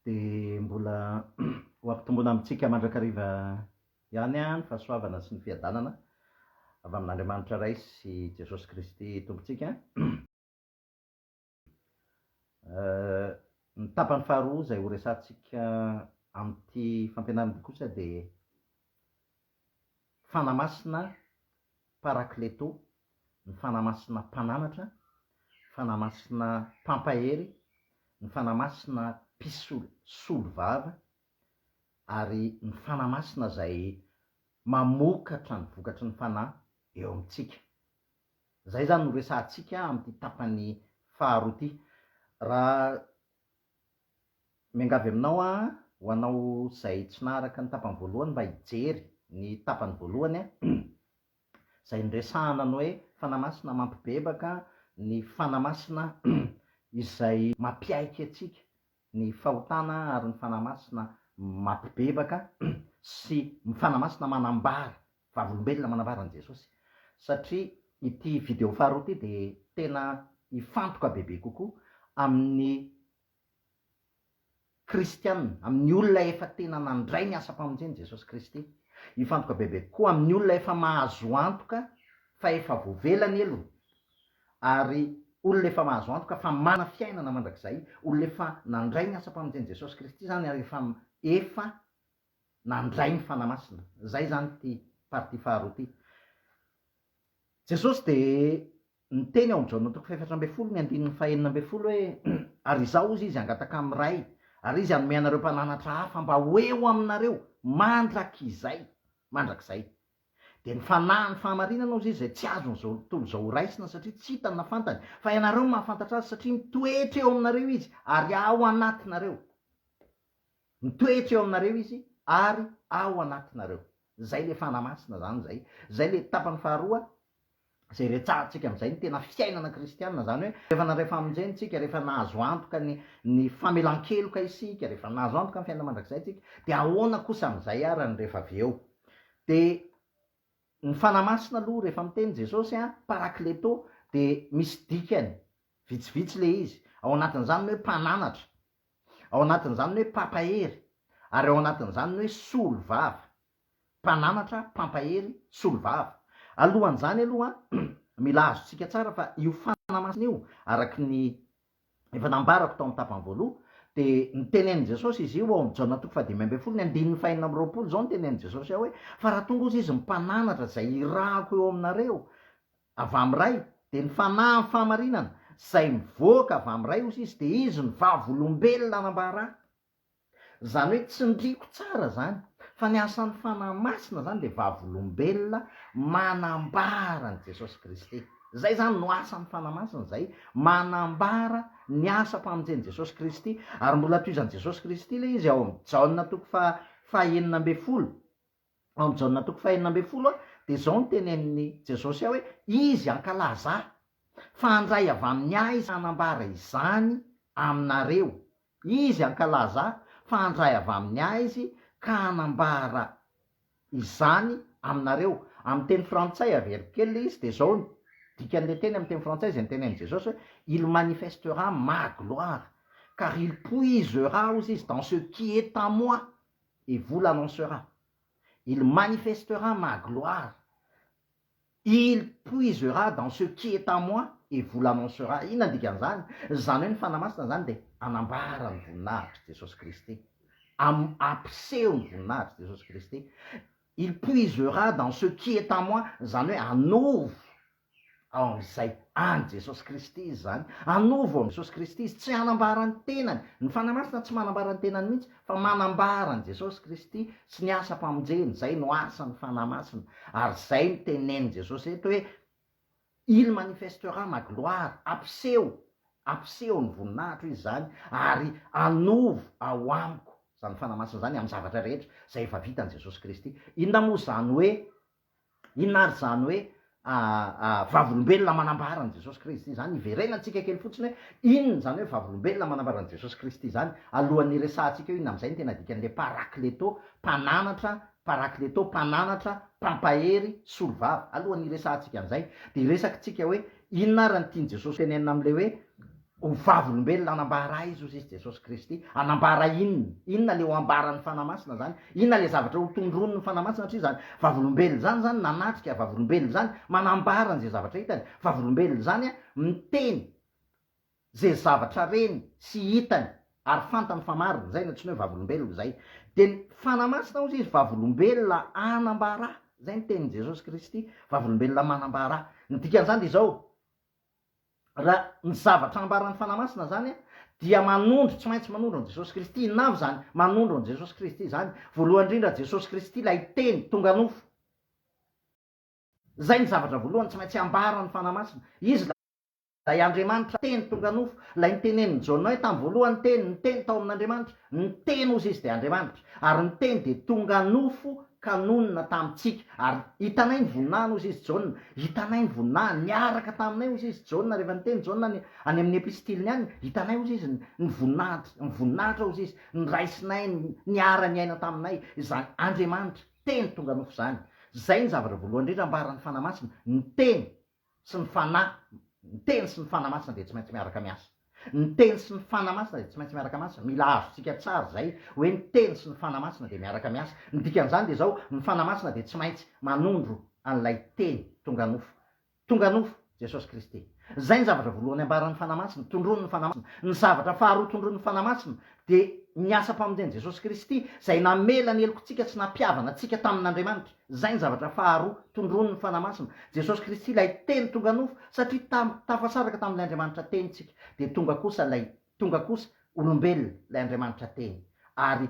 dia mbola ho ampitomboina amintsika mandrakariva ihany ny fahasoavana sy ny fiadanana avy amin'Andriamanitra Ray sy Jesosy Kristy Tompontsika. Ny tapany faharoa izay horesahantsika amin'ity fampianarana ity kosa dia Fanahy Masina Parakleto, ny Fanahy Masina Mpananatra, Fanahy Masina Mpampahery, ny Fanahy Masina Mpisolo solovava, ary ny Fanahy Masina izay mamokatra ny vokatry ny Fanahy eo amintsika. Izay izany no resahantsika amin'ity tapany faharoa ity. Raha Miangavy aminao aho ho anao izay tsy naharaka ny tapany voalohany mba hijery ny tapany voalohany an, izay niresahana ny hoe Fanahy Masina mampibebaka ny Fanahy Masina izay mampiaiky antsika ny fahotana ary ny Fanahy Masina mampibebaka sy Fanahy Masina manambara Vavolombelona manambara an'i Jesosy satria ity video faharoa ity dia tena hifantoka bebe kokoa amin'ny Kristiana, amin'ny olona efa tena nandray ny asam-pamonjen'i Jesosy Kristy. Hifantoka bebe kokoa amin'ny olona efa mahazo antoka fa efa voavela ny helony ary olona efa mahazo antoka fa manana fiainana mandrakizay, olona efa nandray ny asam-pamonjen'i Jesosy Kristy izany ary efa efa nandray ny Fanahy Masina. Izay izany ity partie faharoa ity. Jesosy dia niteny ao amin'ny Jaona toko fahefatra ambin'ny folo ny andininy fahenina ambin'ny folo hoe, Ary Izaho, hozy Izy, hangataka amin'ny Ray, ary Izy hanome anareo mpananatra hafa mba ho eo aminareo mandrakizay, mandrakizay. Dia ny Fanahy, ny Fahamarinana, hozy Izy, izay tsy azon'ny tontolo izao horaisina, satria tsy hitany na fantany, fa ianareo no mahafantatra Azy, satria mitoetra eo aminareo Izy, ary ao anatinareo. Mitoetra eo aminareo izy ary ao anatinareo. Izay ilay Fanahy Masina izany izay. Izay ilay tapany faharoa izay iretsahantsika amin'izay ny tena fiainana kristiana, izany hoe rehefa nandray famonjena isika, rehefa nahazo antoka ny ny famelan-keloka isika, rehefa nahazo antoka ny fiainana mandrakizay isika, dia ahoana kosa amin'izay ary ny rehefa avy eo. Dia ny Fanahy Masina aloha rehefa miteny Jesosy a, parakleto, dia misy dikany vitsivitsy ilay izy, ao anatin'izany ny hoe mpananatra. Ao anatin'izany ny hoe mpampahery, ary ao anatin'izany ny hoe solovava. Mpananatra, mpampahery, solovava. Alohan'izany aloha, mila azontsika tsara fa io fanahy masina io, araka ny efa nambarako tao amin'ny tapany voaloha, dia nitenenin'i Jesosy izy io ao amin'ny Jaona toko fahadimy ambin'ny folo, ny andininy fahenina amby roapolo izao, nitenenin'i Jesosy ao hoe, Fa raha tonga ozy izy ny mpananatra izay irahako eo aminareo, Avy amin'ny Ray, dia ny Fanahy amin'ny fahamarinana, izay mivoaka avy amin'ny Ray, osa izy, dia izy no vavolombelona anambara. Izany hoe, tsindriako tsara izany, fa ny asan'ny Fanahy Masina izany dia vavolombelona manambara an'i Jesosy Kristy. Izay izany no asan'ny Fanahy Masina, izay manambara ny asam-pamonjen'i Jesosy Kristy. Ary mbola tohizan'i Jesosy Kristy ilay izy ao amin'ny Jaona toko faha fahenina ambin'ny folo, ao amin'i Jaona toko fahenina ambin'ny folo, dia izao no tenenin'i Jesosy hoe, Izy hankalaza Ahy, fa handray avy amin'ny Ahy Izy hanambara izany aminareo. Izy hankalaza Ahy, fa handray avy amin'ny Ahy Izy ka hanambara izany aminareo. Amin'ny teny frantsay averiko kely ilay izy, dia izao no dikan'ilay teny amin'ny teny frantsay izay notenenin'i Jesosy hoe, Il manifestera ma gloire, car il puisera, hozy Izy, dans ce qui est à moi. et vous l'annoncera, il manifestera ma gloire, il puisera dans ce qui est à moi et vous l'annoncera, inona ny dikan'izany? Izany hoe ny Fanahy Masina izany dia hanambara ny voninahitr'i Jesosy Kristy, hampiseho ny voninahitr'i Jesosy Kristy, il puisera dans ce qui est à moi, izany hoe hanovo ao amin'izay an'i Jesosy Kristy izy izany, anovo ao amin'i Jesosy Kristy izy, tsy hanambara ny tenany, ny Fanahy Masina tsy manambara ny tenany mihitsy fa manambara an'i Jesosy Kristy sy ny asam-pamonjeny, izay no asan'ny Fanahy Masina, ary izay no tenenin'i Jesosy eto hoe, Il manifestera ma gloire, hampiseho, hampiseho ny voninahitro izy izany, ary anovo ao amiko, izany Fanahy Masina izany, amin'ny zavatra rehetra izay efa vitan'i Jesosy Kristy. Inona moa izany hoe Inona ary izany hoe vavolombelona manambara an'i Jesosy Kristy izany? Iverenantsika kely fotsiny hoe inona izany hoe vavolombelona manambara an'i Jesosy Kristy izany, alohan'ny hiresahantsika hoe inona amin'izay no tena dikan'ilay Parakleto, Mpananatra, Parakleto, Mpananatra, Mpampahery, Solovava. Alohan'ny hiresahantsika an'izay, dia hiresakitsika hoe inona ary ny tian'i Jesosy tenenina amin'ilay hoe Ho vavolombelona hanambara aiza ozy izy Jesosy Kristy? Hanambara inona? Inona le ho ambaran'ny Fanahy Masina zany? Inona le zavatra ho tondroin'ny Fanahy Masina satria zany vavolombelona zany zany nanatrika, vavolombelona zany manambara an'ze zavatra hitany, vavolombelona zany an miteny ze zavatra reny sy hitany ary fantany fa marina, zay no atsony hoe vavolombelona zay. De ny Fanahy Masina ozy izy vavolombelona hanambara, zay ny tenin'i Jesosy Kristy, vavolombelona manambara. Ny dikan'zany de izao, Raha ny zavatra ambaran'ny Fanahy Masina izany dia manondro, tsy maintsy manondro an'i Jesosy Kristy. Inona avy izany manondro an'i Jesosy Kristy izany? Voalohany indrindra, Jesosy Kristy ilay Teny tonga nofo. Izay ny zavatra voalohany tsy maintsy ambaran'ny Fanahy Masina. Izy ilay Andriamanitra Teny tonga nofo, ilay nitenenin'i Jaona hoe tamin'ny voalohany ny Teny, ny Teny tao amin'Andriamanitra, ny Teny ozy Izy dia Andriamanitra, ary ny Teny dia tonga nofo ka nonina tamintsika, ary hitanay ny voninahiny, hoy izy, Jaona, hitanay ny voninahiny, niaraka taminay, hoy izy, Jaona, rehefa niteny Jaona any, any amin'ny epistiliny any, hitanay, hoy izy, ny, ny voninahitr, ny voninahitra, hoy izy, noraisinay, ny, niara-niaina taminay, izany Andriamanitra, Teny tonga nofo izany. Izay ny zavatra voalohany indrindra ambaran'ny Fanahy Masina, ny Teny, sy ny Fanahy, ny Teny sy ny Fanahy Masina dia tsy maintsy miaraka miasa. Ny Teny sy ny Fanahy Masina dia tsy maintsy miaraka miasa. Mila azontsika tsara izay hoe ny Teny sy ny Fanahy Masina dia miaraka miasa. Ny dikan'izany dia izao, ny Fanahy Masina dia tsy maintsy manondro an'ilay Teny tonga nofo. Tonga nofo, Jesosy Kristy. Izay ny zavatra voalohany ambaran'ny Fanahy Masina, tondroin'ny Fanahy Masina. Ny zavatra faharoa tondroin'ny Fanahy Masina dia ny asam-pamonjen'i Jesosy Kristy izay namela ny helokintsika sy nampihavana antsika tamin'Andriamanitra. Izay ny zavatra faharoa tondroin'ny Fanahy Masina. Jesosy Kristy ilay Teny tonga nofo, satria tam, tafasaraka tamin'ilay Andriamanitra Teny tsika, dia tonga kosa ilay, tonga kosa olombelona ilay Andriamanitra Teny, ary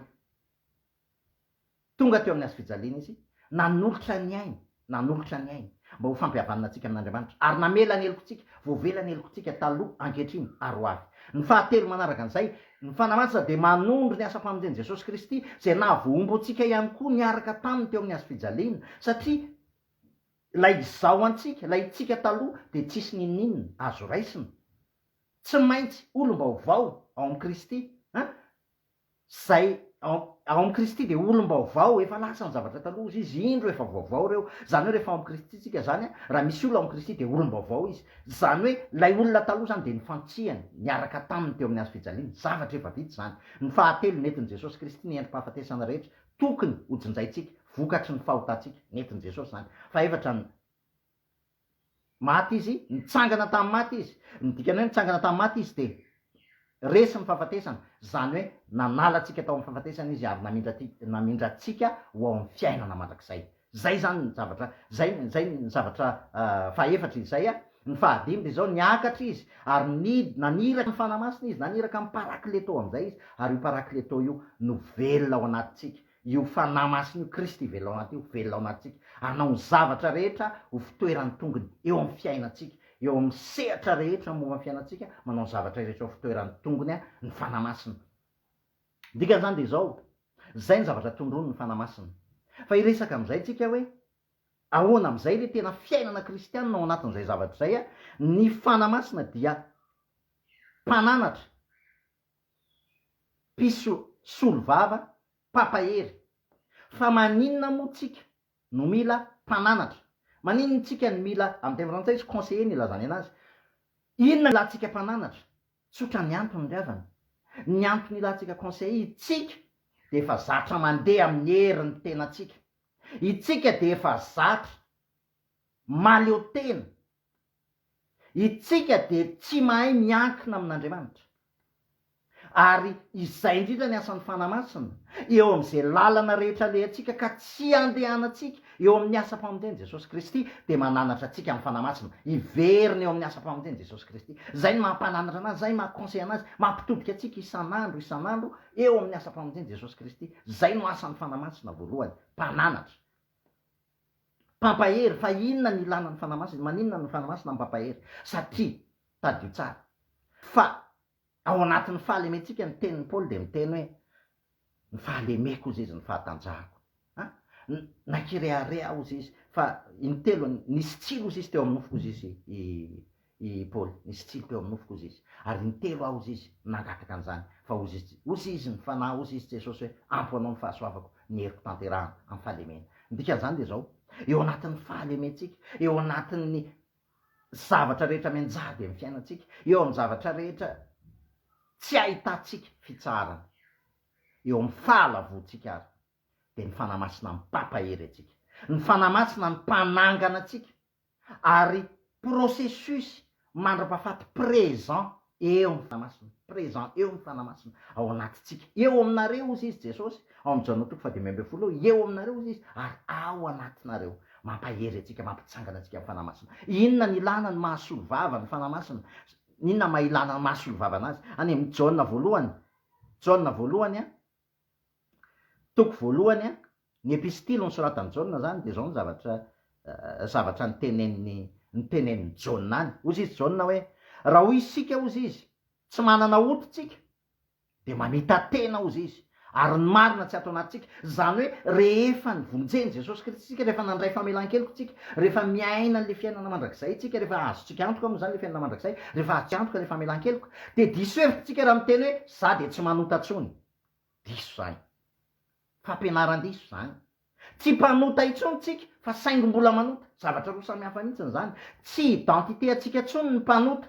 Tonga teo amin'ny Hazo fijaliana Izy, nanolotra ny Ainy, nanolotra ny Ainy, mba ho fampihavanana antsika amin'Andriamanitra, ary namela ny helokontsika, voavela ny helokontsika taloha, ankehitriny, ary ho avy. Ny fahatelo manaraka an'izay, Ny Fanahy Masina dia manondro ny asam-pamonjen'i Jesosy Kristy, izay nahavoahombo antsika ihany koa niaraka taminy teo amin'ny hazofijaliana, satria ilay izaho antsika, ilay itsika taloha, dia tsisy n'inon'inona azo raisina. Tsy maintsy olom-baovao ao amin'i Kristy. An? Izay ao, ao amin'i Kristy dia olom-baovao, efa lasa ny zavatra taloha, hozy Izy, indro efa vaovao ireo. Izany hoe rehefa ao amin'i Kristy isika izany, an, raha misy olona ao amin'i Kristy dia olom-baovao izy. Izany hoe ilay olona taloha izany dia nifantsihany, niaraka taminy teo amin'ny hazo fijaliana. Zavatra efa vita izany. Ny fahatelo, nentin'i Jesosy Kristy ny endri-pahafatesana rehetra tokony hojinjaintsika, vokatry ny fahotantsika. Nentin'i Jesosy izany. Fahefatra ny maty Izy, nitsangana tamin'ny maty Izy. Ny dikany hoe nitsangana tamin'ny maty Izy dia. Resy ny fahafatesana, izany hoe nanala antsika tao amin'ny fahafatesana Izy ary namindra ty, namindra antsika ho ao amin'ny fiainana mandrakizay. Izay izany ny zavatra, izay, izay ny zavatra fahefatra izy izay a. Ny fahadimy dia izao, niakatra Izy ary ni, naniraka ny Fanahy Masina Izy, naniraka ny Parakleto amin'izay Izy, ary io Parakleto io no velona ao anatintsika. Io Fanahy Masina io, Kristy ivelonanty io, velonantsika hanao ny zavatra rehetra ho fitoeran'ny tongony eo amin'ny fiainantsika, eo amin'ny sehatra rehetra momba ny fiainantsika, manao ny zavatra rehetra ho fitoeran'ny tongony ny Fanahy Masina. Ny dikan'izany dia izao, izay ny zavatra tondroiny ny Fanahy Masina. Fa hiresaka amin'izay tsika hoe, ahoana amin'izay ilay tena fiainana kristianina ao anatin'izay zavatra izay, ny Fanahy Masina dia mpananatra, mpisolo vava mpampahery. Fa maninona moa tsika no mila mpananatra? Maninona tsika no mila, amin'ny teny frantsay izy conseiller no ilazany anazy. Inona no ilantsika mpananatra? Tsotra ny antony ry havana. Ny antony ilantsika conseiller, itsika dia efa zatra mandeha amin'ny herin'ny tenantsika. Itsika dia efa zatra mahaleo tena. Isika dia tsy mahay miankina amin'Andriamanitra. Ary izay indrindra ny asan'ny Fanahy Masina, eo amin'izay lalana rehetra alehantsika ka tsy andehanantsika, eo amin'ny asam-pamonjen'i Jesosy Kristy, dia mananatra antsika amin'ny Fanahy Masina, hiverina eo amin'ny asam-pamonjen'i Jesosy Kristy. Izay no mampananatra anazy, izay maha-conseil anazy, mampitodika antsika isan'andro, isan'andro, eo amin'ny asam-pamonjen'i Jesosy Kristy. Izay no asan'ny Fanahy Masina voalohany, mpananatra. Mpampahery, fa inona ny ilana ny Fanahy Masina? Maninona no Fanahy Masina Mpampahery? Satria, tadidio tsara, fa ao anatin'ny fahalementsika ny tenin'i Paoly dia miteny hoe, ny fahalemeko hozy izy ny fahatanjahako. An, nankirehareha aho hozy izy, fa intelony, nisy tsilo hozy izy teo amin'ny nofoko hozy izy i, I Paoly, nisy tsilo teo amin'ny nofoko, hozy izy. Ary intelo aho, hozy izy, nangataka an'izany. Fa hozy izy, hozy izy ny Fanahy, hozy izy Jesosy hoe, Ampy ho anao ny fahasoavako, ny heriko tanterahana, amin'ny fahalemena. Ny dikan'izany dia izao, eo anatin'ny fahalementsika, eo anatin'ny zavatra rehetra mianjady amin'ny fiainantsika, eo amin'ny zavatra rehetra tsy ahitantsika fitsaharana, eo amin'ny fahalavoantsika ary, dia ny Fanahy Masina mampampahery antsika. Ny Fanahy Masina no mpanangana antsika, ary processus mandrapafaty présent eo amin'ny Fanamasina, présent eo amin'ny Fanamasina ao anatintsika, eo aminareo hozy izy Jesosy ao amin'ny Jaona toko fahadimy ambin'ny folo eo, eo aminareo hozy izy ary ao anatinareo, mampahery antsika, mampitsangana antsika amin'ny Fanamasina. Inona ny ilana ny mahasolovava ny Fanamasina? Inona ny maha ilana ny mahasolovava anazy? Any amin'ny Jaona voalohany, Jaona voalohany a, toko voalohany a, Ny epistily nosoratan'i Jaona izany dia izao ny zavatra zavatra niteneniny niteneniny Jaona any. Hozy izy Jaona hoe, Raha hoy isika hozy izy, tsy manana ody tsika, dia mamita tena hozy izy, ary ny marina tsy ato anatintsika. Izany hoe rehefa nivonjen'i Jesosy Kristy isika, rehefa nandray famelan-keloka isika, rehefa miaina an'ilay fiainana mandrakizay isika, rehefa azontsika antoka moa izany ilay fiainana mandrakizay, rehefa azontsika antoka ilay famelan-keloka, dia diso hevitra isika raha miteny hoe, za dia tsy manota tsony. Diso izany. Fampianaran-diso izany. Tsy mpanota intsony tsika fa saingy mbola manota. Zavatra roa samy hafa mihitsiny izany. Tsy identité antsika intsony ny mpanota.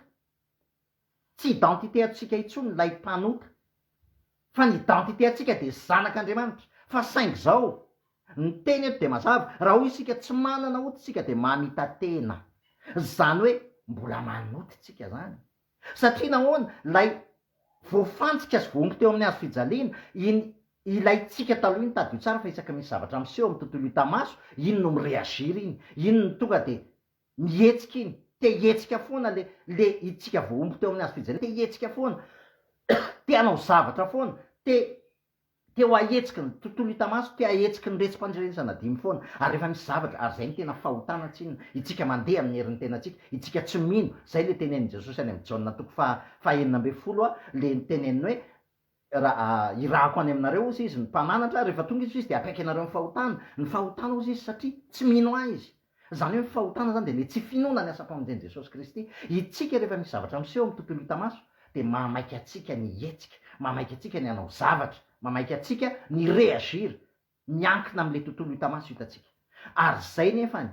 Tsy identité antsika intsony ilay mpanota. Fa ny identité antsika dia zanak' Andriamanitra. Fa saingy izao, ny teny eto dia mazava, raha hoy isika tsy manana ota isika dia mamita-tena. Izany hoe mbola manota isika izany. Satria nahoana? Ilay voafantsika sy voaomby teo amin'ny hazo fijaliana iny, ilaintsika taloha iny, tadidio tsara fa isaky ny misy zavatra miseho amin'ny tontolo hita maso, iny no mi-reagir iny, iny no tonga dia mihetsika iny, te hihetsika foana le, le itsika voaomby teo amin'ny hazo fijaliana, te hihetsika foana, te hanao zavatra foana, te. Te ho ahetsiky ny tontolo hita maso, te ahetsiky ny retsi-pandrenesana dimy foana, ary efa misy zavatra, ary izay no tena fahotana tsinona, itsika mandeha amin'ny herin'ny tenantsika, itsika tsy mino, izay ilay tenenin'i Jesosy any amin'ny Jaona toko faha fahenina ambin'ny folo a, ilay niteneniny hoe, Raha hirahako any aminareo, hozy Izy, ny Mpamanatra, rehefa tonga Izy, hozy Izy, dia hampaiky anareo ny fahotana, ny fahotana, hozy Izy, satria tsy mino Ahy izy. Izany hoe ny fahotana izany dia ny tsy finoana ny asam-pamonjen'i Jesosy Kristy. Isika rehefa misy zavatra miseho amin'ny tontolo hita maso dia mahamaika antsika ny hihetsika, mahamaika antsika ny hanao zavatra, mahamaika antsika ny reagir miankina amin'ilay tontolo hita maso hitantsika. Ary izay nefany,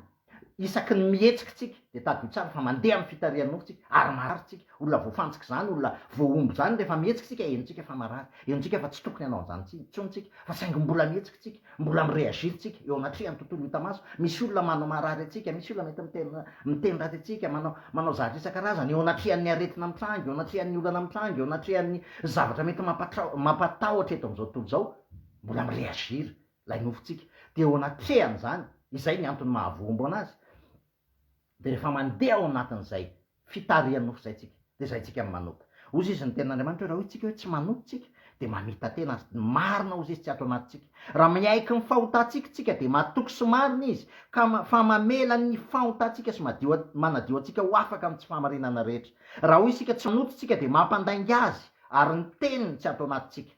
isaky ny mihetsika isika dia tadidio tsara fa mandeha amin'ny fitarihan'ny nofo isika ary marary isika. Olona voafantsika izany, olona voahombo izany, rehefa mihetsika isika henontsika fa marary, henontsika fa tsy tokony hanao an'izany intsony intsony isika, fa saingy mbola mihetsika isika. Mbola mi-reagir tsika eo anatrehan'ny tontolo hita maso, misy olona manao marary antsika, misy olona mety miteny miteny ratsy antsika, manao manao zavatra isan-karazany eo anatrehan'ny aretina mitranga, eo anatrehan'ny olana mitranga, eo anatrehan'ny zavatra mety mampatrao mampatahotra eto amin'izao tontolo izao, mbola mi-reagir ilay nofontsika. Dia eo anatrehan'izany, izay ny antony mahavoa-ombo anazy, Dia rehefa mandeha ao anatin'izay fitarihan'ny nofo izay isika, dia izay isika no manota. Hozy izy ny Tenin'Andriamanitra hoe raha hoy isika hoe tsy manota isika, dia mamita-tena Azy. Ny marina hozy izy tsy ato anatintsika. Raha miaiky ny fahotantsika isika, dia matoky sy marina Izy, ka fa mamela ny fahotantsika sy madio, manadio antsika ho afaka amin'ny tsy fahamarinana rehetra. Raha hoy isika tsy manota isika, dia mampandainga Azy, ary ny Teniny tsy ato anatintsika.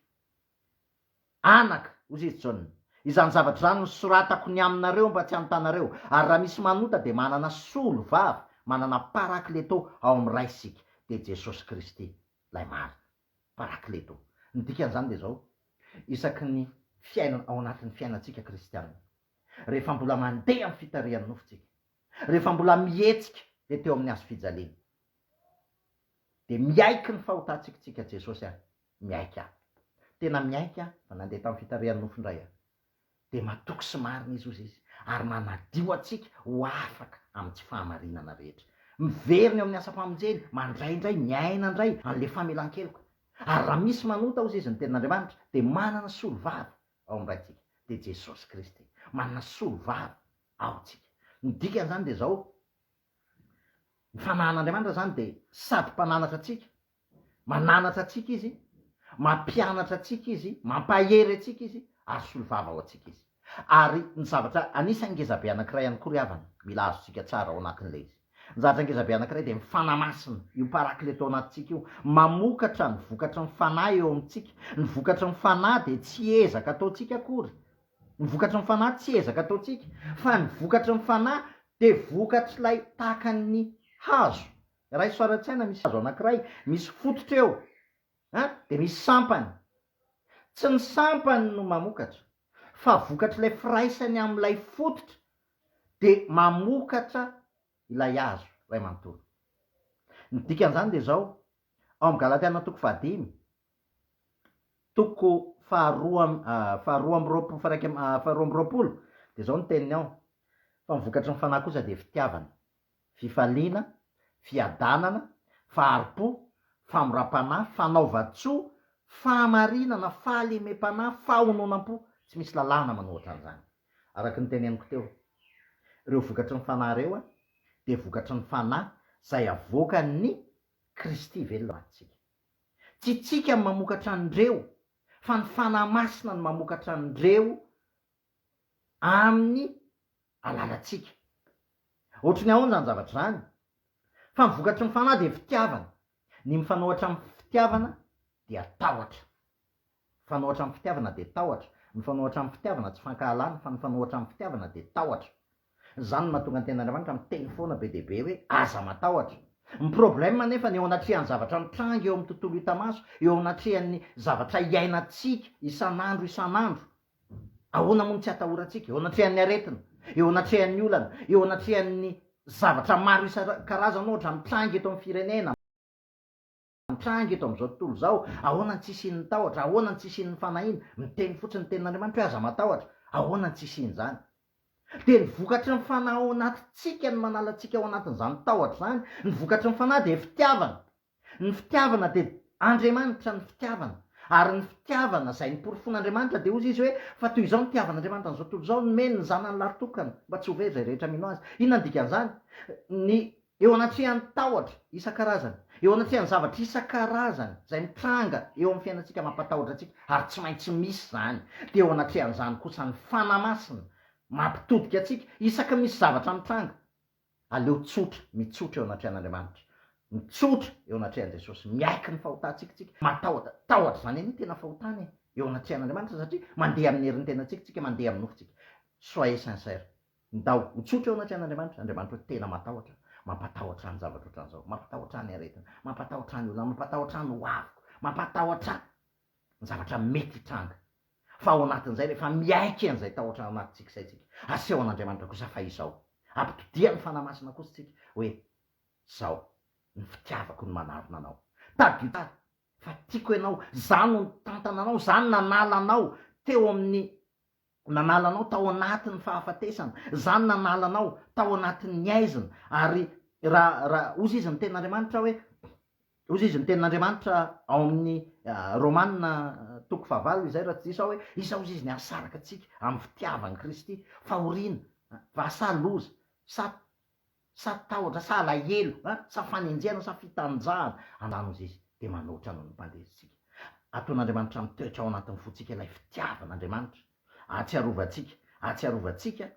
Anaka, hoy izy, John, izany zavatra izany nosoratako ny aminareo mba tsy hanotanareo, ary raha misy manota dia manana solovava, manana Parakleto ao amin'ny Ray isika, dia Jesosy Kristy, Ilay marina. Parakleto. Ny dikan'izany dia izao, isaky ny fiainana, ao anatin'ny fiainantsika kristiana, rehefa mbola mandeha amin'ny fitarihan'ny nofontsika, rehefa mbola mihetsika ety eo amin'ny hazo fijaliana, dia miaiky ny fahotantsika isika, Jesosy a, Miaiky aho. Tena miaiky aho vao nandeha tamin'ny fitarihan'ny nofo indray aho. Dia matoky sy marina izy, hoy izy, ary manadio antsika ho afaka amin'ny tsy fahamarinana rehetra. Miverina eo amin'ny asam-pamonjeny, mandray indray, miaina indray an'ilay famelan-keloka. Ary raha misy manota, hozy izy, ny Tenin'Andriamanitra, dia manana solovava ao amin'ny Raintsika, dia Jesosy Kristy. Manana solovava ao tsika. Ny dikan'izany dia izao, Ny fanahan'Andriamanitra izany dia sady Mpananatra antsika, Mananatra antsika Izy, mampianatra antsika Izy, mampahery antsika Izy, ary solivava ho antsika Izy. Ary ny zavatra anisan'ny ngezabe anankiray ihany koa ry havana, mila azontsika tsara ao anatin'ilay izy. Ny zavatra ngezabe anankiray dia ny Fanahy Masina, io Parakleto ao anatintsika io, mamokatra ny vokatry ny Fanahy eo amintsika. Ny vokatry ny Fanahy dia tsy ezaka ataontsika akory. Ny vokatry ny Fanahy tsy ezaka ataontsika, fa ny vokatry ny Fanahy dia vokatr'ilay tahaka ny hazo Raiso ara-tsaina misy hazo anankiray, misy fototra eo, an, dia misy sampany. Tsy ny sampany no mamokatra, fa vokatr'ilay firaisany amin'ilay fototra dia mamokatra ilay hazo iray manontolo. Ny dikan'izany dia izao, ao amin'ny Galatiana toko fahadimy, toko faharoa faharoa amby roapolo faha-iraika faharoa amby roapolo, dia izao ny teniny ao, Fa ny vokatry ny fanahy kosa dia fitiavana. fifaliana, fiadanana, fahari-po, famoram-panahy, fanaovan-tsoa, fahamarinana, fahalemem-panahy, fahononam-po, tsy misy lalàna manao ohatran'izany. Araka ny teneniko teo, ireo vokatry ny Fanahy ireo dia vokatry ny Fanahy izay avoakan'ny Kristy velona ho antsika. Tsy itsika no mamokatra an'ireo fa ny Fanahy Masina no mamokatra an'ireo amin'ny alalantsika. Ohatry ny ahoana izany zavatra izany? Fa ny vokatry ny fanahy dia fitiavana. Ny mifanohatra amin'ny fitiavana dia tahotra. Mifanohatra amin'ny fitiavana dia tahotra. Mifanohatra amin'ny fitiavana tsy fankahalana fa mifanohatra amin'ny fitiavana dia tahotra. Izany no mahatonga ny Tenin'Andriamanitra miteny foana be dia be hoe aza matahotra. Ny problème anefa ny eo anatrehan'ny zavatra mitranga eo amin'ny tontolo hita maso, eo anatrehan'ny zavatra iainantsika isan'andro isan'andro, Ahoana moa no tsy atahorantsika eo anatrehan'ny aretina, eo anatrehan'ny olana, eo anatrehan'ny zavatra maro isan-karazany ohatra mitranga eto amin'ny firenena, mitranga eto amin'izao tontolo izao, ahoana no tsy hisian'ny tahotra, ahoana no tsy hisian'ny fanahiana, miteny fotsiny ny tenin'Andriamanitra hoe aza matahotra, ahoana no tsy hisian'izany? Dia ny vokatry ny fanahy ao anatintsika no manala antsika ao anatin'izany tahotra izany, ny vokatry ny fanahy dia fitiavana, Ny fitiavana dia Andriamanitra ny fitiavana ary ny fitiavana izay noporofoin'Andriamanitra dia hozy izy hoe fa toy izao ny tiavan'Andriamanitra an'izao tontolo izao nomeny ny zanany lahytokana mba tsy ho very izay rehetra mino azy. Inona ny dikan'izany? Ny eo anatrehan'ny tahotra isan-karazany, eo anatrehan'ny zavatra isan-karazany izay mitranga eo amin'ny fiainantsika mampatahotra antsika ary tsy maintsy misy izany, dia eo anatrehan'izany kosa ny Fanahy Masina mampitodika antsika isaky misy zavatra mitranga. Aleo tsotra, mitsotra eo anatrehan'Andriamanitra, mitsotra eo anatrehan'i Jesosy, miaiky ny fahotantsika tsika, matahotra, tahotra izany anie ny tena fahotana e, eo anatrehan'Andriamanitra satria mandeha amin'ny herin-tenantsika tsika, mandeha amin'ny nofo tsika. Soyez sincère, ndao ho tsotra eo anatrehan'Andriamanitra, Andriamanitra hoe tena matahotra, mampatahotra ahy ny zavatra ohatran'izao, mampatahotra ahy ny aretina, mampatahotra ahy ny olona, mampatahotra ahy ny hoaviko, mampatahotra ahy. ny zavatra mety hitranga, fa ao anatin'izay rehefa miaiky an'izay tahotra ao anatintsika izay tsika, aseho an'Andriamanitra kosa fa izao, ampitodiha ny Fanahy Masina kosa tsika hoe, zao ny fitiavako no manarona anao, tadidio tsara fa tiako ianao, za no nitantana anao, za no nanala anao teo amin'ny. Ko nanala anao tao anatin'ny fahafatesana. Zany nanala anao tao anatin'ny aizina. Ary ra, ra, ozy izy ny tenin'Andriamanitra hoe, ozy izy ny tenin'Andriamanitra ao amin'ny Romana toko fahavalo izay raha tsy diso aho hoe, Isa ozy izy ny hasaraka antsika amin'ny fitiavan'i Kristy, fahoriana, vasa loza, sa sa tahotra sa alahelo an, sa fanenjehana sa fitanjahana, anano izy izy dia manoatra noho ny mpandesintsika. Ataon'Andriamanitra mitoetra ao anatin'ny fontsika ilay fitiavan'Andriamanitra. Ahatsiarovantsika, ahatsiarovantsika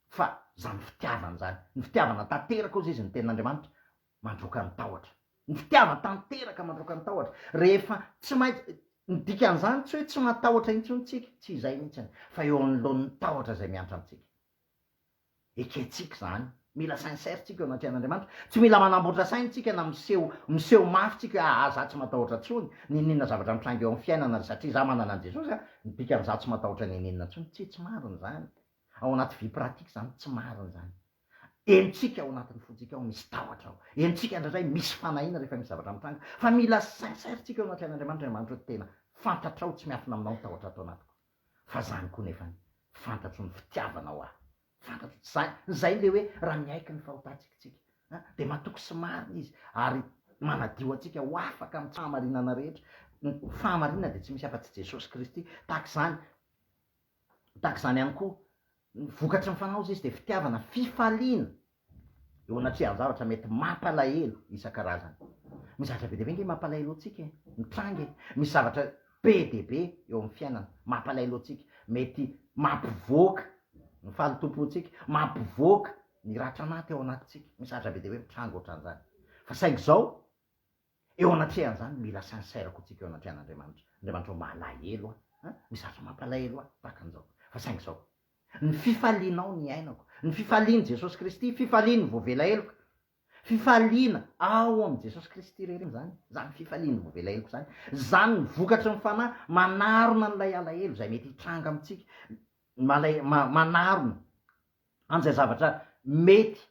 fa izany fitiavana izany, ny fitiavana tanteraka hozy izy ny tenin'Andriamanitra, mandroaka ny tahotra. Ny fitiavana tanteraka mandroaka ny tahotra. Rehefa tsy maintsy, ny dikan'izany tsy hoe tsy matahotra intsony tsika, tsy izay mihitsiny, fa eo anoloan'ny tahotra izay miantra antsika. Ekentsika izany. Mila sincère tsika eo anatrehan' Andriamanitra. Tsy mila manamboatra saina tsika na miseho miseho mafy tsika hoe aa za tsy matahotra tsony n'ininona zavatra mitranga eo am fiainana ry satria za manana an Jesosy a ny dikany za tsy matahotra n'ininona tsony tsia tsy marina zany ao anaty vie pratique zany tsy marina zany henontsika ao anatiny fontsika ao misy tahotra ao henontsika ndraindray misy fanahiana rehefa misy zavatra mitranga fa mila sincère tsika eo anatrehan Andriamanitra Andriamanitra hoe tena fantatrao tsy miafina aminao ny tahotra ato anatiko fa zany koa nefany fantatro ny fitiavanao ahy fantatro tsy zany zay le hoe raha miaiky ny fahotantsika tsika an de matoky sy marina izy ary manadio antsika ho afaka am fahamarinana rehetra ny fahamarinana de tsy misy afa tsy jesosy kristy tahaka izany tahaka izany ihany koa ny vokatry ny fanaozy izy de fitiavana fifaliana eo anatrehan'ny zavatra mety mampalahelo isan-karazany. Misy zavatra be dia be ange mampalahelo antsika e, mitranga e, misy zavatra be dia be eo amin'ny fiainana mampalahelo antsika, mety mampivoaka ny fahalotoam-pontsika, mampivoaka ny ratra maty ao anatintsika, misy zavatra be dia be mitranga ohatran'izany. Fa saingy izao, Eo anatrehan'izany, mila sincère koa tsika eo anatrehan'Andriamanitra. Andriamanitra o, malahelo aho, an, misy zavatra mampalahelo ahy tahaka an'izao. Fa saingy izao, ny fifalianao ny iainako, ny fifalian'i Jesosy Kristy, fifalian'ny voavela heloka, fifaliana ao amin'i Jesosy Kristy irery izany, izany fifalian'ny voavela heloka izany, izany ny vokatry ny Fanahy manarona an'ilay alahelo izay mety hitranga amintsika, malay, ma, manarona an'izay zavatra mety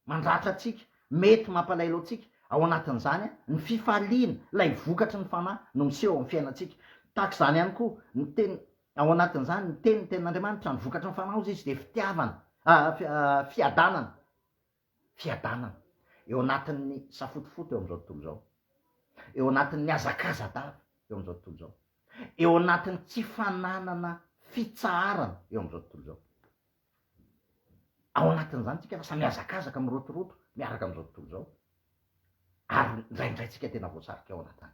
mandratra antsika, mety mampalahelo antsika, ao anatin'izany ny fifaliana, ilay vokatry ny fanahy no miseho ao amin'ny fiainantsika. Tahaka izany ihany koa ny teny, ao anatin'izany ny teny, ny tenin'Andriamanitra, ny vokatry ny fanahy hozy izy dia fitiavana, fiadanana, fiadanana eo anatin'ny safotofoto eo amin'izao tontolo izao, eo anatin'ny hazakaza-dava eo amin'izao tontolo izao, eo anatin'ny tsy fananana fitsaharana eo amin'izao tontolo izao. Ao anatin'izany tsika lasa mihazakazaka, mirotoroto miaraka amin'izao tontolo izao ary indraindray tsika tena voasarika ao anatiny.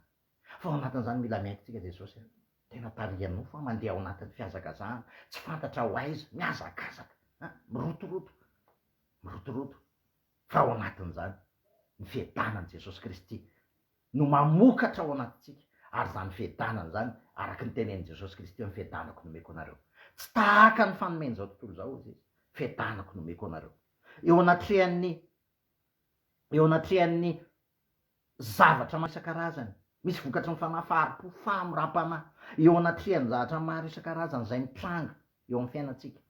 Fa ao anatin'izany mila miaiky tsika Jesosy a! Tena tarihan'ny nofo a! Mandeha ao anatin'ny fihazakazahana, tsy fantatra ho aiza, mihazakazaka a! Mirotoroto, mirotoroto, fa ao anatin'izany ny fiadanan'i Jesosy Kristy no mamokatra ao anatintsika, ary izany fiadanana izany, araka ny tenenin'i Jesosy Kristy hoe, Ny fiadanako no omeko anareo. Tsy tahaka ny fanomen'izao tontolo izao, hoy Izy, Fiadanako no omeko anareo. Eo anatrehan'ny, eo anatrehan'ny zavatra maro isan-karazany, misy vokatry ny fanahy, fahari-po, famoram-panahy, eo anatrehan'ny zavatra maro isan-karazany izay mitranga eo amin'ny fiainantsika,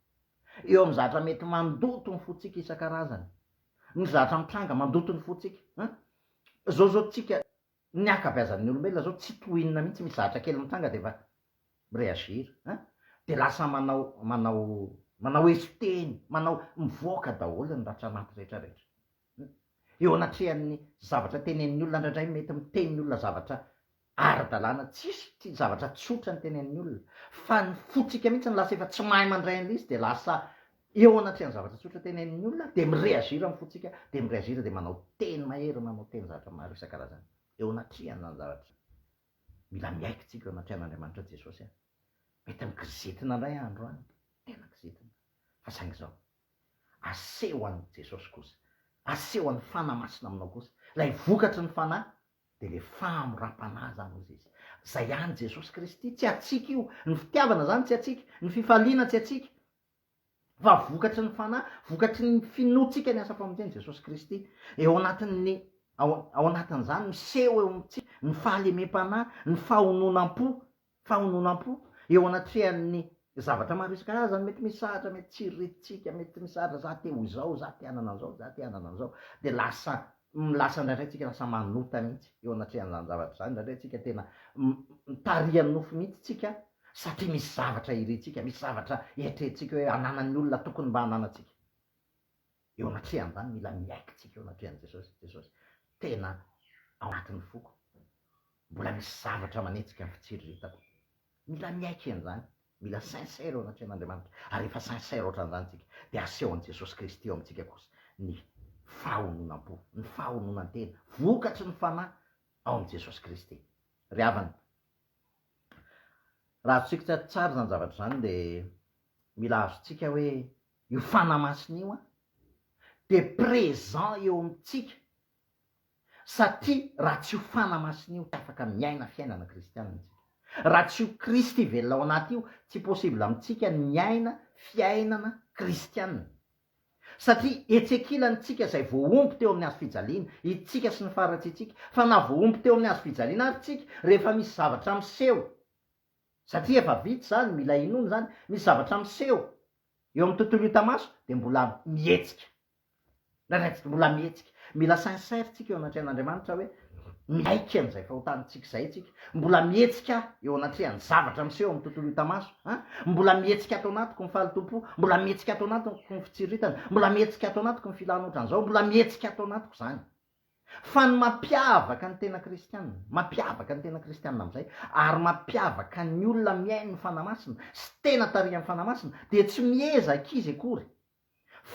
eo amin'ny zavatra mety mandoto ny fontsika isan-karazany, ny zavatra mitranga mandoto ny fontsika, an, Zao zao tsika ny ankabeazan'ny olombelona zao tsy toa inona mihitsy misy zahatra kely mitranga de efa mi reagir a! de lasa manao manao manao eso teny manao mivoaka daholo ny ratra anaty rehetra rehetra eo anatrehan'ny zavatra tenenin'ny olona ndraindray mety miteny ny olona zavatra ara-dalàna tsisy tsy zavatra tsotra ny tenenin'ny olona fa ny fontsika mihitsy no lasa efa tsy mahay mandray an'ilay izy dia lasa eo anatrehan'ny zavatra tsotra tenenin'ny olona dia mi-reagir amin'ny fontsika dia mi-reagir dia manao teny mahery manao teny zavatra maro isan-karazany eo anatrehan' izany zavatra mila miaiky tsika eo anatrehan'Andriamanitra Jesosy a mety mi-kizitina indray andro any tena kizitina fa saingy izao aseho an'i Jesosy kosa aseho an'ny Fanahy Masina aminao kosa ilay vokatry ny Fanahy Dia le famoram-panahy izany hozy izy. Izay ihany Jesosy Kristy, tsy hatsiaka io. Ny fitiavana izany tsy hatsiaka, ny fifaliana tsy hatsiaka. Fa vokatry ny fanahy, vokatry ny finoantsika ny asa famonjeny Jesosy Kristy. Eo anatin'ny ao, ao anatin'izany miseho eo amintsika ny fahalemem-panahy, ny fahononam-po, fahononam-po eo anatrehan'ny zavatra maro isan-karazany mety misahatra, mety tsy iretintsika, mety misahatra za te ho izao, za te hanana an'izao, za te hanana an'izao, dia lasa lasa indraindray tsika lasa manota mihitsy eo anatrehan'izany zavatra izany, indraindray tsika tena mitarihan'ny nofo mihitsy tsika satria misy zavatra irintsika, misy zavatra eritreretintsika hoe ananan'ny olona tokony mba ananantsika. eo amin'ny hatreha ambany mila miaiky tsika eo anatreha an'i Jesosy, Jesosy tena ao anatin'ny foko, mbola misy zavatra manetsika ny fitsiriritako, mila miaiky an'izany, mila sincère eo anatrehan'Andriamanitra, ary rehefa sincère ohatran'izany tsika dia asehon'i Jesosy Kristy eo amintsika kosa ny fahononam-po, ny fahononan-tena, vokatry ny fanahy ao amin'i Jesosy Kristy. Ry havana, raha azontsika tsara izany zavatra izany dia mila azontsika hoe Io fanahy masina io an dia présent eo amintsika satria raha tsy io fanahy masina io tsy afaka miaina fiainana kristianina tsika. Raha tsy io Kristy velona ao anaty io tsy possible amintsika ny miaina fiainana kristianina. Satria etsy ankilany tsika izay voahombo teo amin'ny hazo fijaliana, itsika sy ny faharatsiantsika. Fa na voahombo teo amin'ny hazo fijaliana ary tsika, rehefa misy zavatra miseho, Satria efa vita izany, mila inoana izany, misy zavatra miseho eo amin'ny tontolo hita maso dia mbola mihetsika. Raisintsika mbola mihetsika. Mila sincère tsika eo anatrehan'Andriamanitra hoe miaiky an'izay fahotantsika izay tsika. Mbola mihetsika eo anatrehan'ny zavatra miseho eo amin'ny tontolo hita maso. An! Mbola mihetsika ato anatiko ny fahalotoam-po, mbola mihetsika ato anatiko ny fitsiritana, mbola mihetsika ato anatiko ny filana ohatran'izao, mbola mihetsika ato anatiko izany. Fa ny mampiavaka ny tena kristiana, mampiavaka ny tena kristiana amin'izay, ary mampiavaka ny olona mihaino ny Fanahy Masina sy tena tarihan'ny Fanahy Masina, dia tsy miezaka izy akory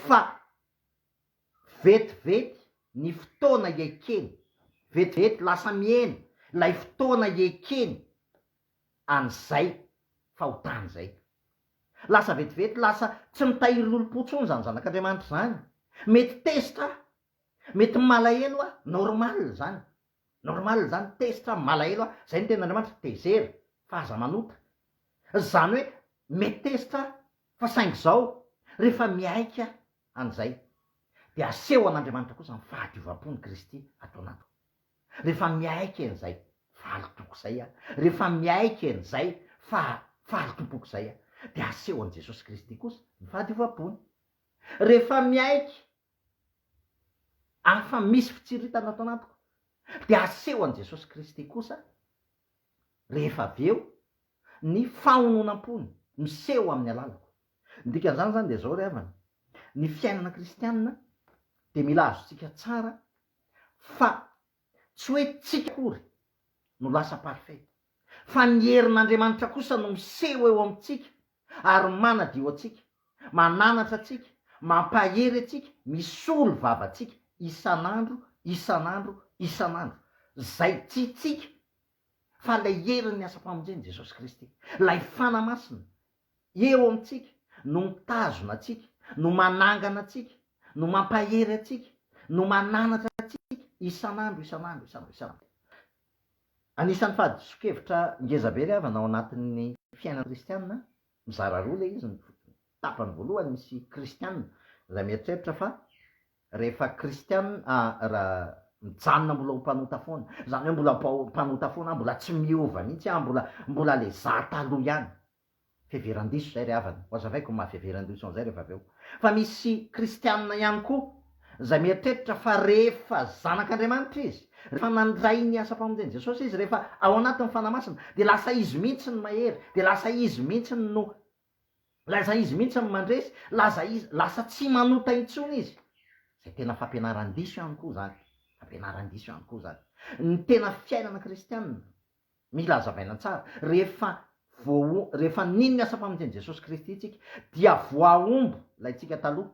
fa vetivety ny fotoana iekeny, vetivety lasa mihena ilay fotoana iekeny an'izay fahotany izay. Lasa vetivety lasa tsy mitahiry lolompo intsony izany zanak'Andriamanitra izany. Mety tezitra Mety malahelo aho, normal zany, normal zany, tezitra aho, malahelo aho, zay ny tenin'Andriamanitra, tezera, fa aza manota, zany hoe mety tezitra aho, fa saingy izao rehefa mihaika an'izay dia aseho an'Andriamanitra kosa ny fahadiovam-pon'i Kristy ato anatiko, rehefa mihaika an'izay fa alitoko izay aho, rehefa mihaika an'izay fa fahalotompoko izay aho dia aseho an'i Jesosy Kristy kosa ny fahadiovam-pony, rehefa mihaika Afa misy fitsiritana ato anatiko dia aseho an'i Jesosy Kristy kosa rehefa avy eo ny fahononam-pony miseho amin'ny alalako. Ny dikan'izany izany dia izao ry havana, ny fiainana kristianina dia mila azontsika tsara fa Tsy hoe tsika akory no lasa parfait, fa ny herin'Andriamanitra kosa no miseho eo amintsika ary manadio antsika, mananatra antsika, mampahery antsika, misolo vava antsika isan'andro, isan'andro, isan'andro. Izay tsy tsika fa ilay herin'ny asam-pamonjen'i Jesosy Kristy, ilay Fana Masina, Eo amintsika, no mitazona antsika, no manangana antsika, no mampahery antsika, no mananatra antsika isan'andro, isan'andro, isan'andro, isan'andro. Anisan'ny fahadisoan-kevitra ngezabe ilay havana ao anatin'ny fiainana kristiana, mizara roa ilay izy, ny tapany voalohany misy kristiana izay mieritreritra fa Rehefa kristiana aho, mijanona mbola ho mpanota foana. Izany hoe mbola mpanota foana aho, mbola tsy miova mihitsy aho, mbola, mbola ilay izaho taloha ihany. Fiheveran-diso izay ry havana. Ho hazavaiko ny maha fiheveran-diso an'izay rehefa avy eo. Fa misy kristiana ihany koa izay mieritreritra fa rehefa zanak'Andriamanitra izy, rehefa nandray ny asam-pamonjen'i Jesosy izy, rehefa ao anatin'ny Fanahy Masina, dia lasa izy mihitsy ny mahery, dia lasa izy mihitsy no Lasa izy mihitsy no mandresy, lasa izy, lasa tsy manota intsony izy. Izay tena fampianaran-diso ihany koa izany, fampianaran-diso ihany koa izany. Ny tena fiainana kristianina, mila hazavaina tsara, rehefa voa, rehefa nino ny asa-pamonjen'i Jesosy Kristy isika, dia voahombo ilay tsika taloha,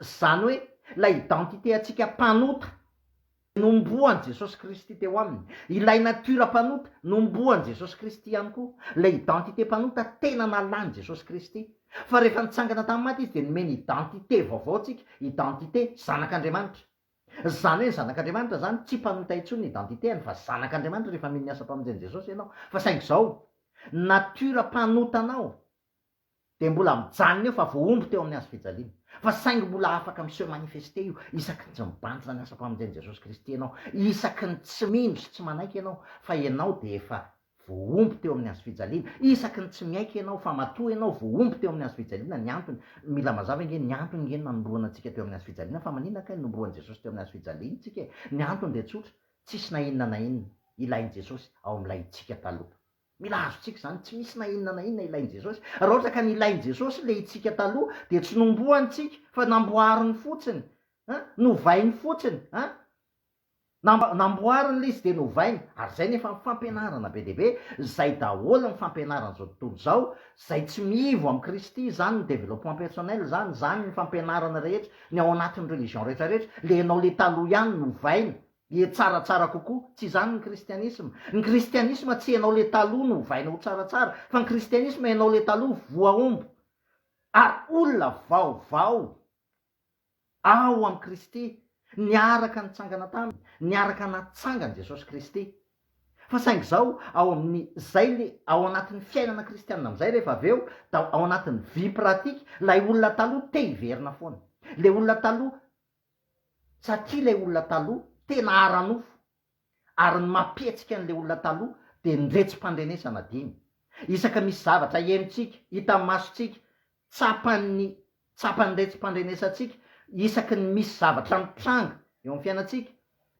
Izany hoe ilay identité antsika mpanota nombohan'i Jesosy Kristy teo aminy, ilay natiora mpanota nombohan'i Jesosy Kristy ihany koa, ilay identité mpanota tena nalan'i Jesosy Kristy. Fa rehefa nitsangana tamin'ny maty Izy dia nomeny identité vaovao antsika, identité zanak'Andriamanitra. Izany hoe ny zanak'Andriamanitra izany tsy mpanota intsony ny identité-any fa zanak'Andriamanitra rehefa mino ny asam-pamonjen'i Jesosy ianao. Fa saingy izao, natiora mpanota anao. dia mbola mijanona eo fa voahombo teo amin'ny hazofijaliana. Fa saingy mbola afaka mi-se manifester io isaky ny tsy mibanjina ny asam-pamonjen'i Jesosy Kristy ianao, isaky ny tsy mino sy tsy manaiky ianao fa ianao dia efa voahombo teo amin'ny hazofijaliana, isaky ny tsy miaiky ianao fa matoa ianao voahombo teo amin'ny hazofijaliana, ny antony, mila mazava ange, ny antony ange nanombohana antsika teo amin'ny hazofijaliana, fa maninona kay no nombohan'i Jesosy teo amin'ny hazofijaliana tsika e? Ny antony dia tsotra, tsisy na inona na inona ilain'i Jesosy ao amin'ilay tsika taloha. Mila azontsika izany. Tsy misy na inona na inona ilain'i Jesosy. Raha ohatra ka nilain'i Jesosy ilay hitsika taloha, dia tsy nomboany tsika, fa namboariny fotsiny. An? Novainy fotsiny. An? Nam- namboariny ilay izy dia novainy. Ary izay nefa ny fampianarana be dia be, izay daholo ny fampianaran'izao tontolo izao, izay tsy miivo amin'i Kristy, izany ny développement personnel izany, izany ny fampianarana rehetra, ny ao anatin'ny religion rehetra rehetra, ilay ianao ilay taloha ihany novaina. Dia tsaratsara kokoa. Tsy izany ny kristianisma. Ny kristianisma tsy ianao ilay taloha no ovaina ho tsaratsara, fa ny kristianisma ianao ilay taloha voahombo ary olona vaovao ao amin'i Kristy, niaraka nitsangana taminy, niaraka natsangan'i Jesosy Kristy. Fa saingy izao, ao amin'ny, izay ilay ao anatin'ny fiainana kristianina amin'izay rehefa avy eo, da ao anatin'ny vie pratique, ilay olona taloha te-hiverina foana. Ilay olona taloha satria ilay olona taloha tena ara-nofo ary ny mampihetsika an'ilay olona taloha dia ny retsim-pandrenesana dimy isaka misy zavatra henontsika, hitan'ny masontsika, tsapan'ny tsapan'ny retsim-pandrenesantsika isaky ny misy zavatra mitranga eo amin'ny fiainantsika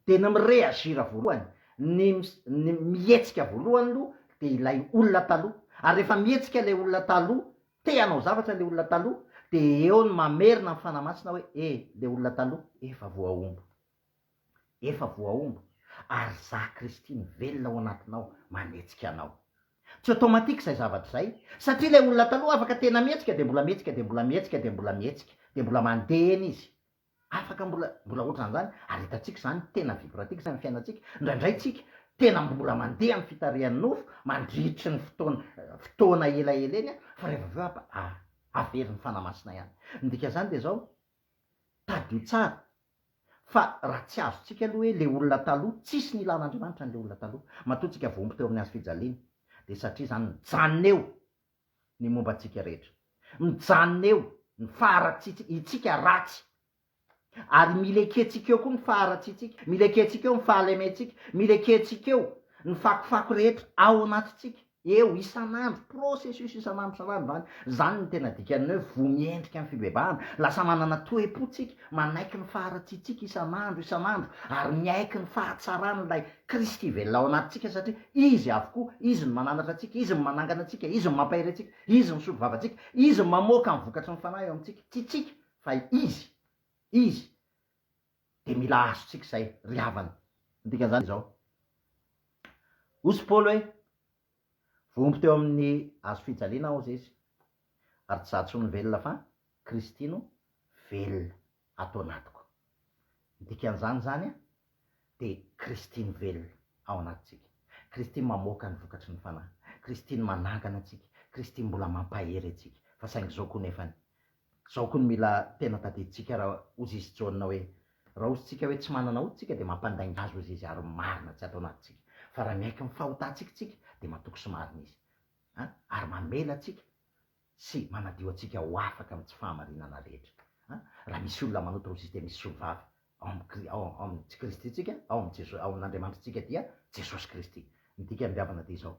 dia ny mi-reagir voalohany, ny ny mihetsika voalohany aloha dia ilay olona taloha ary rehefa mihetsika ilay olona taloha Te hanao zavatra le olona taloha de eo ny mamerina ny fanahy masina hoe e le olona taloha efa voahombo efa voahombo ary za Kristy mivelona ao anatinao manetsika anao. Tsy automatique izay zavatra izay satria ilay olona taloha afaka tena mihetsika de mbola mihetsika de mbola mihetsika de mbola mihetsika de mbola mandeha eny izy Afaka mbola mbola ohatran zany ary hitantsika zany tena vibratif zany fiainantsika ndraindray tsika tena mbola mandeha am fitarihan nofo mandritry ny fotoana fotoana elaela eny an fa rehefa avy eo a averin ny fanahy masina ihany ny dika zany dia zao tadidio tsara fa raha tsy azo tsika aloha hoe le olona taloha tsisy nilan Andriamanitra an le olona taloha matoa tsika voaomby teo amin ny hazo fijaliana dia satria zany mijanona eo ny momba antsika rehetra. Mijanona eo ny faharatsitsika, itsika ratsy, ary mila ekentsika eo koa ny faharatsitsika, mila ekentsika eo ny fahalementsika, mila ekentsika eo ny fakofako rehetra ao anatintsika, eo, isan'andro, processus isan'andro isan'andro izany, izany no tena dikan'ny hoe voa miendrika ny fibebahana, lasa manana toe-po tsika, manaiky ny faharatsitsika isan'andro, isan'andro, ary miaiky ny fahatsarana ilay Kristy velona ao anatintsika satria Izy avokoa, Izy no mananatra antsika, Izy no manangana antsika, Izy no mampahery antsika, Izy no misolo vavantsika, Izy no mamoaka ny vokatry ny Fanahy eo amintsika. Tsy tsika, fa Izy. Izy. Dia mila azontsika izay, ry havana. Ny dikan'izany dia izao. Hoy Paoly hoe. Voaomby teo amin'ny hazo fijaliana aho zesy ary tsy za tsony no velona fa Kristy no velona ato anatiko. Ny dikan'izany zany dia Kristy no velona ao anatintsika. Kristy mamoaka ny vokatry ny Fanahy. Kristy no manangana antsika. Kristy mbola mampahery antsika. Fa saingy izao koa nefany Zao koa no mila tena tadidintsika ra ozizy jaune hoe, ra ozintsika hoe tsy manana hoditra tsika dia mampandainga azy ozizy ary marina tsy ato anatintsika fa ra miaiky ny fahotantsika tsika dia matoky sy marina izy a ary mamela antsika sy manadio antsika ho afaka amin'ny tsy fahamarinana rehetra a ra misy olona manota ozizy dia misy solovava ao amin'ny ao amin'ny tsy kristintsika ao amin'ny ao amin'andriamanitritsika dia jesosy kristy ny dikan'ny biavana dia izao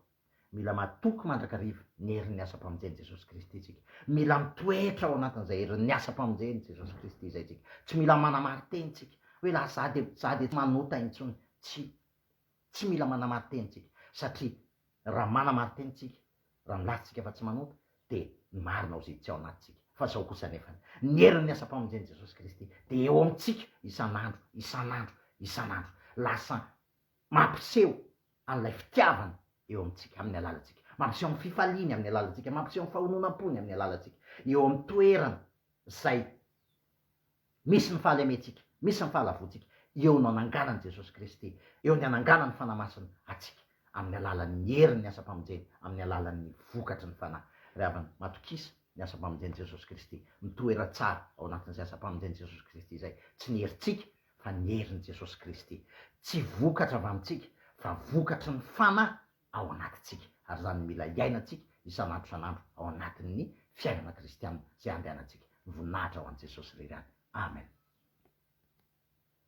Mila matoky mandrakariva ny herin'ny asam-pamonjen'i Jesosy Kristy isika. Mila mitoetra ao anatin'izay herin'ny asam-pamonjen'i Jesosy Kristy izay isika. Tsy mila manamari-teny isika, hoe lasa za dia za dia tsy manota intsony. Tsia. Tsy mila manamari-teny isika, satria raha manamari-teny isika, raha milaza isika fa tsy manota, dia ny marina ho ziditsy ao anatintsika. Fa izao kosa anefany, ny herin'ny asam-pamonjen'i Jesosy Kristy dia eo amintsika isan'andro, isan'andro, isan'andro. Lasa Mampiseho an'ilay fitiavany eo amintsika amin'ny alalantsika. Mampiseho ny fifaliany amin'ny alalantsika. Mampiseho ny fahononam-pony amin'ny alalantsika. Eo amin'ny toerana izay misy ny fahalementsika, misy ny fahalavoantsika, eo no ananganan'i Jesosy Kristy, eo ny ananganan'ny Fanahy Masina antsika amin'ny alalan'ny herin'ny asam-pamonjeny, amin'ny alalan'ny vokatry ny Fanahy. Ry havana, matokisa ny asam-pamonjen'i Jesosy Kristy. Mitoera tsara ao anatin'izay asam-pamonjen'i Jesosy Kristy izay, tsy ny herintsika fa ny herin'i Jesosy Kristy. Tsy vokatra avy amintsika, fa vokatry ny Fanahy ao anatintsika. Ary izany no mila iainantsika isan'andro isan'andro ao anatin'ny fiainana kristiana izay andehanantsika. Voninahitra ho an'i Jesosy irery ihany. Amen.